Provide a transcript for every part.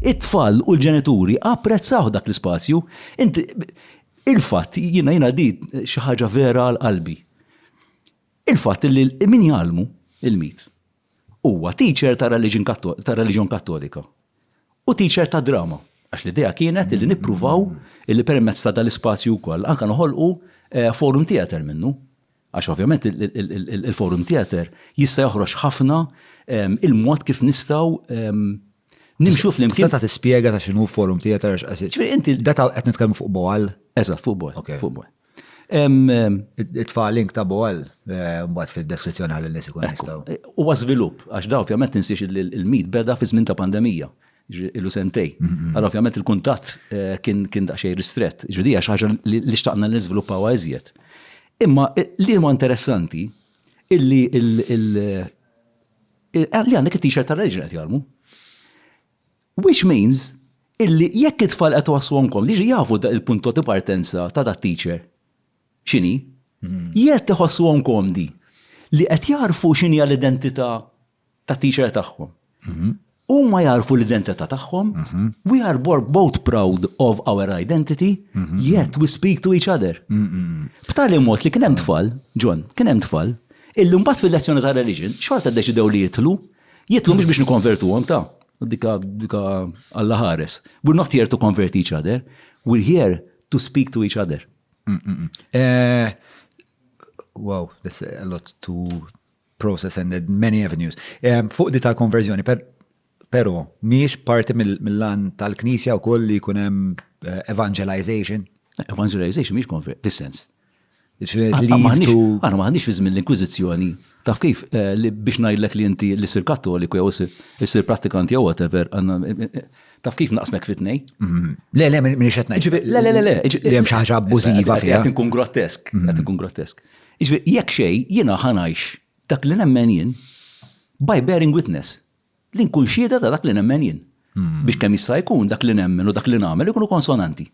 It-tfal u l-ġenituri apprezzawh dak l-ispazju. Inti, il-fatt, jiena jiena di xi ħaġa vera għal qalbi. Il-fatt li min jgħallmu il-mit huwa teacher ta' reliġjon kattolika u teacher ta' drama. Għax l-idea kienet li nippruvaw li permezz ta' dal-ispazju wkoll anke noħolqu eh, forum theater minnu. Għax ovvjament il-Forum Theatre jista' joħroġ ħafna il-mod kif nistgħu nimxu flimkien. Tista' ta' tispjega ta' x'inhu Forum Theatre għax qed. Ġifieri inti. Data qed nitkellmu fuq Boal. Eżatt, fuq Boal. Fuq Boal. Itfa' link ta' Boal eh, mbagħad fid-deskrizzjoni għal nies ikun jistgħu. Huwa żvilupp għax da ovvjament tinsiex il-mit beda fi żmien ta' pandemija. ilu sentej. Għal ovvjament il-kuntatt eh, kien kien daqsxejn ristrett. Ġudi għax ħaġa li xtaqna li niżviluppaw iżjed. Imma eh, li huwa interessanti illi eh, li għandek it-t-shirt tal-reġna qed jarmu. Which means illi jekk it-tfal qed waswonkom li jafu il-punto di partenza ta' dat teacher x'inhi, mhm. jekk iħossuhom komdi li qed jarfu x'inhi l-identità tat-teacher tagħhom. Huma jagħrfu l-identità tagħhom, we are both proud of our identity, yet we speak to each other. B'tali mod li kien hemm tfal, John, kien hemm tfal, illi mbagħad fil-lezzjoni ta' religion, xorta ddeċidew li jitlu, jitlu mhux biex nikkonvertuhom ta' dika dika Alla ħares. We're not here to convert each other, we're here to speak to each other. Wow, that's a lot to process and then many avenues. Eh, fuq di tal-konverżjoni, per, pero, miex parti mill-lan tal-knisja u koll li kunem eh, evangelization? Evangelization miex konver, fil-sens. Għana maħnix fi żmien l-Inkwizizjoni. Taf kif eh, biex ngħidlek li inti li sir kattoliku jew sir prattikanti jew whatever, taf kif naqsmek fitnej? Mhm. Le, le, minn xetna. Le, le, le, le. Li hemm xi ħaġa abbużiva fiha. Qed inkun grotesk, qed mhm. inkun grotesk. Jiġifieri, jekk xejn, jiena ħa ngħix dak li nemmen jien by bearing witness, li nkun xhieda ta' dak li nemmen jien. Biex kemm jista' jkun dak li nemmen u dak li nagħmel ikunu konsonanti.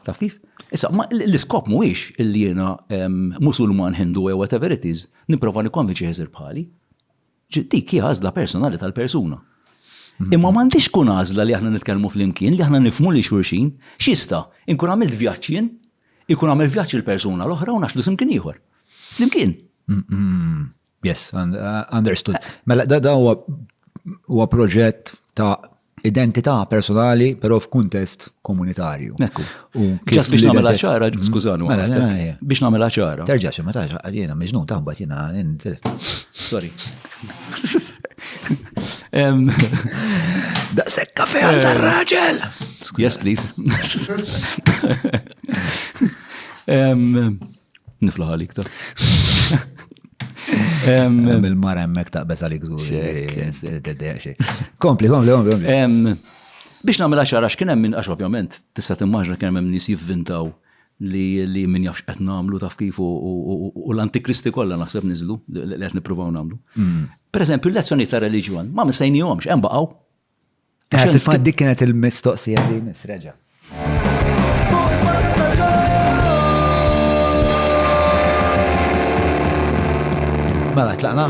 Taf kif? Issa, ma l-iskop mhuwiex illi jiena Musulman, Hindu jew whatever it is, nipprova nikkonvinċi ħiesir bħali. Dik hi għażla personali tal-persuna. Imma m'għandix tkun għażla li aħna nitkellmu flimkien, li aħna nifhmu lil xulxin. X'jista'? Inkun għamilt vjaġġ jien, ikun għamel vjaġġ il-persuna l-oħra u naxlu simkien ieħor. Flimkien. Yes, understood. Mela, da huwa proġett ta' identità personali, però f'kuntest komunitarju. Ekku. Ġas biex namela ċara, mm-hmm. skużanu. Mela, mela, mela, biex namela ċara. Terġa xe, ma taġa, għadjena, meġnun taħba jena. Sorry. Da sekka fe għal dar raġel! Yes, please. Niflaħ għalik ta. Il-mara emmek taqbez għalik zuħ. Kompli, kompli, kompli. Biex namela xara x'kien hemm minn għax ovvjament tista' timmaġna kien hemm nies jivvintaw li li min jafx qed nagħmlu taf kif u l-antikristi kollha naħseb niżlu li qed nippruvaw nagħmlu. Mm. Per eżempju, l-lezzjoni ta' reliġjon ma msejnihomx hemm baqgħu. Għax il-fat dik kienet il-mistoqsija li misreġa. Mela, tlaqna.